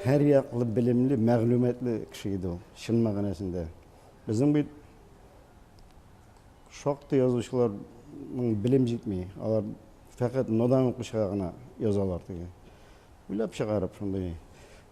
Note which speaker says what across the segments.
Speaker 1: Һәрьяклы белемле, мәгълүматлы кеше иде ул, чын мәгънәсендә. Безнең бит шактый язучыларның белем җитми. Алар фәкать нодан укучыга гына язалар теге. Уйлап чыгарып шундый.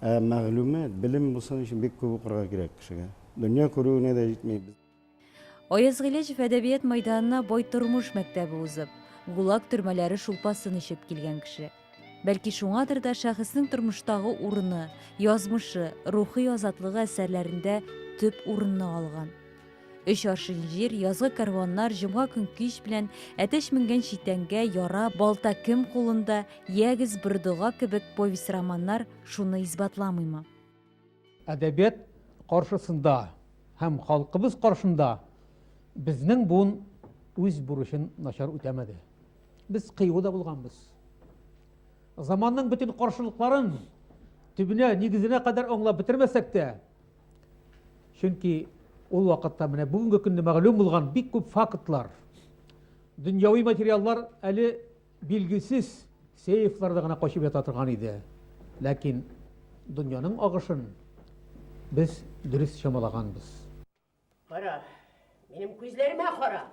Speaker 1: Ә мәгълүмат, белем булсын өчен бик күп укырга кирәк кешегә. Дөнья күрүенә дә җитми. Аяз
Speaker 2: Гыйләҗев әдәбият мәйданына бай тормыш мәктәбе узып, ГУЛАГ төрмәләре шулпасын эчеп килгән кеше. Бәлки шуңадыр да шәхеснең тормыштагы урыны, язмышы, рухи азатлыгы әсәрләрендә төп урынны алган. Өч аршин җир, язгы кәрваннар, җомга көн кич белән, әтәч менгән читәнгә, яра, балта кем кулында, ягез, бер дога кебек повесть-романнар шуны исбатламыймы?
Speaker 3: Әдәбият каршысында һәм халкыбыз каршында безнең буын үз бурычын начар үтәмәде. Без кыю да булганбыз. Заманның бөтен каршылыкларын төбенә, нигезенә кадәр аңлап бетермәсәк тә, чөнки ул вакытта менә бүгенге көнне мәгълүм булган бик күп фактлар, дөньяви материаллар әле Билгесез сейфларда гына качып ята торган иде. Ләкин дөньяның агышын без дөрес чамалаганбыз. Кара,
Speaker 4: минем күзләремә кара!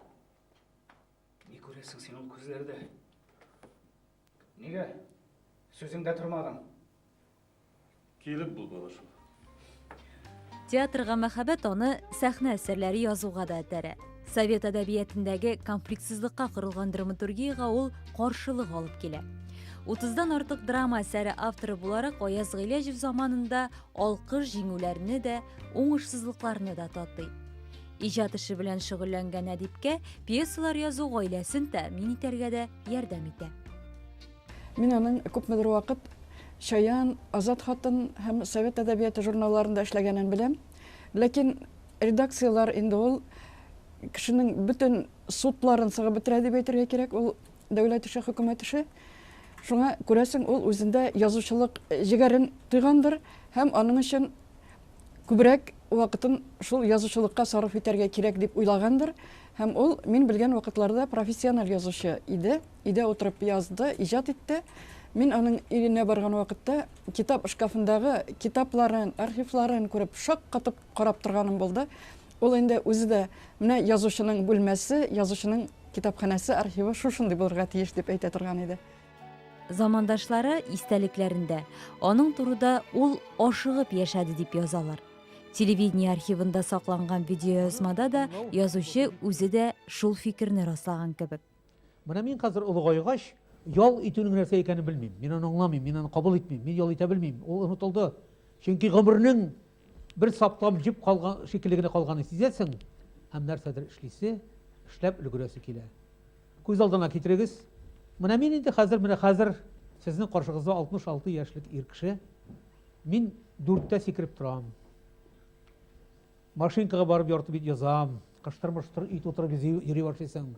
Speaker 5: Ни күрәсең син ул күзләрдә? Нигә сүзеңдә тормадың?
Speaker 6: Килеп бул, бала шул. Театрга
Speaker 2: мәхәббәт аны сәхнә әсәрләре язуга да этәрә. Совет әдәбиятендәге конфликтсызлыкка корылган драматургиягә ул каршылык алып килә. 30-дан артык драма әсәре авторы буларак Аяз Гыйләҗев заманында алкыш җиңүләрне дә, уңышсызлыкларны да татый. Иҗат эше белән шөгыльләнгән әдипкә пьесалар язу гаиләсен тәэмин итәргә дә ярдәм итә. Мин
Speaker 7: аның күпмедер вакыт Чаян, Азат хатын һәм Совет әдәбияты журналларында эшләгәнен беләм. Ләкин редакцияләр инде ул кешенең бөтен судларын сыгып бетерә дип әйтергә кирәк. Ул дәүләт эше, хөкүмәт эше. Шуңа күрәсең, ул үзендә язучылык җегәрен тойгандыр һәм аның өчен күбрәк вакытын шул язучылыкка сарыф итәргә кирәк дип уйлагандыр. Һәм ул, мин белгән вакытларда профессиональ язучы иде. Өйдә утырып язды, иҗат итте. Мин аның өенә барган вакытта китап шкафындагы китапларын, архивларын күреп, шаккатып карап торганым булды. Ул инде үзе дә менә язучының бүлмәсе, язучының китапханәсе, архивы шушындый булырга тиеш дип әйтә торган иде. Замандашлары
Speaker 2: истәлекләрендә аның турыда ул ашыгып яшәде дип язалар. Телевидение архивында сакланган видеоязмада да язучы үзе дә шул фикерне раслаган кебек. Менә мин хәзер
Speaker 3: олыгайгач, ял итүнең нәрсә икәнен белмим. Мин аны аңламыйм, мин аны кабул итмим, мин ял итә белмим. Ул онытылды. Чөнки гомернең бер саплам җеп калган шикелле генә калганын сизәсең һәм нәрсәдер эшлисе, эшләп өлгерәсе килә. Күз алдына китерегез. Менә мин инде хәзер, менә хәзер сезнең каршыгызда 66 яшьлек ир кеше. Мин дүрттә сикереп торам. Машинкага барып ярты бит язам. Кыштыр-мыштыр өй тутырып йөри башлыйсың.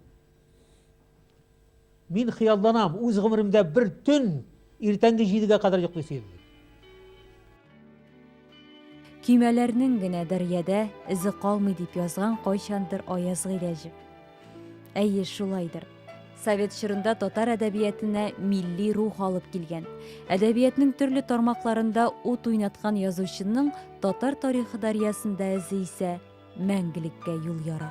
Speaker 3: Мин хыялланам, үз гомеремдә бер төн иртәнге җидегә кадәр йоклыйсы идем.
Speaker 2: Көймәләрнең генә дәрьядә эзе калмый дип язган кайчандыр Аяз Гыйләҗев. Әйе, шулайдыр. Совет чорында татар әдәбиятына милли рух алып килгән. Әдәбиятның төрле тармакларында ут уйнаткан язучының татар тарихы дарьясында эзе исә мәңгелеккә юл яра.